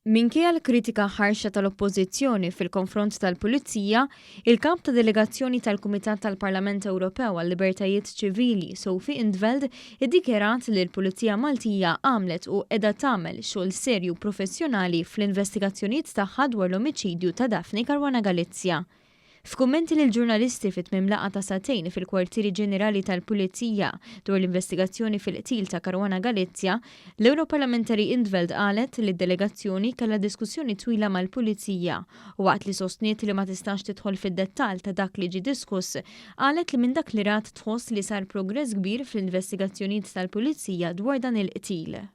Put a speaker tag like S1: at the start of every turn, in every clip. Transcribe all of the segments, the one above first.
S1: Minkejja l-kritika ħarxa tal-Oppożizzjoni fil-konfront tal-Pulizija, il-Kap ta' Delegazzjoni tal-Kumitat tal-Parlament Ewropew għal-Libertajiet Ċivili, Sophie in 't Veld, iddikjarat li l-Pulizija Maltija għamlet u qiegħda tagħmel xogħol serju u professjonali fl-investigazzjonijiet tagħha dwar l-omiċidju ta' Daphne Caruana Galizia. F'kummenti lill-ġurnalisti fi tmiem laqgħa ta' sagħtejn fil-kwartieri ġenerali tal-Pulizija dwar l-investigazzjoni fil-qtil ta' Caruana Galizia, l-Ewroparlamentari in 't Veld qalet li d-delegazzjoni kellha diskussjoni twila mal-Pulizija u waqt li sostniet li ma tistax tidħol fid-dettall ta' dak li ġie diskuss, qalet li minn dak li rat tħoss li sar progress kbir fl-investigazzjonijiet tal-Pulizija dwar dan il-qtil.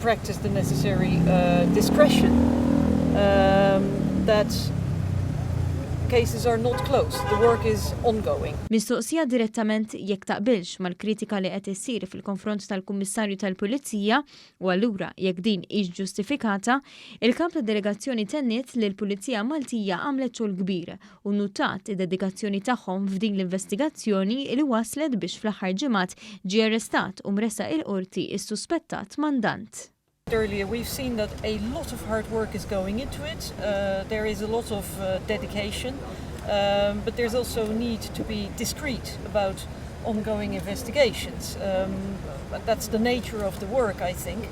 S2: practice the necessary uh, discretion um, that cases are not closed, the work is ongoing. Mistoqsija
S1: direttament jekk taqbilx mal-kritika li qed issir fil-konfront tal-Kummissarju tal-Pulizija u allura jekk din hix ġustifikata, il-kap tad-delegazzjoni tenniet li l-Pulizija Maltija għamlet xogħol kbir u nnutat id-dedikazzjoni tagħhom f'din l-investigazzjoni li wasslet biex fl-aħħar ġimgħat ġie arrestat u mressaq il-Qorti s-suspettat mandant. Earlier we've
S2: seen that a lot of hard work is going into it, there is a lot of dedication, but there is also a need to be discreet about ongoing investigations, that's the nature of the work I think.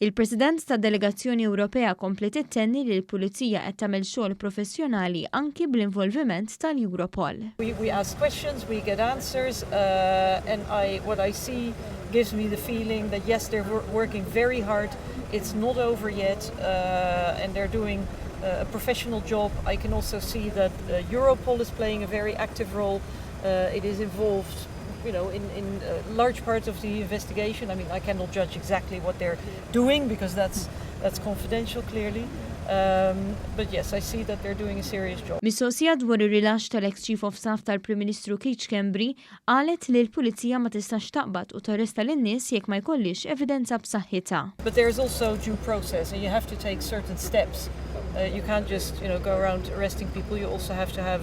S2: Il-President
S1: tad-Delegazzjoni Ewropea kompliet ittenni li l-Pulizija qed tagħmel xogħol professjonali anki bl-involviment
S2: tal-Europol. you know, in, in uh, large parts of the investigation. I mean, I cannot judge exactly what they're doing because that's, that's confidential, clearly. Um, but yes, I see that they're doing a serious job. Mistoqsija dwar ir-rilax
S1: tal-ex Chief of Staff tal-Prim Ministru Keith Kembri qalet li l-Pulizija ma tistax taqbad u tarresta lin-nies jekk ma jkollix evidenza b'saħħitha. But there is also
S2: due process and you have to take certain steps. Uh, you can't just, you know, go around arresting people, you also have to have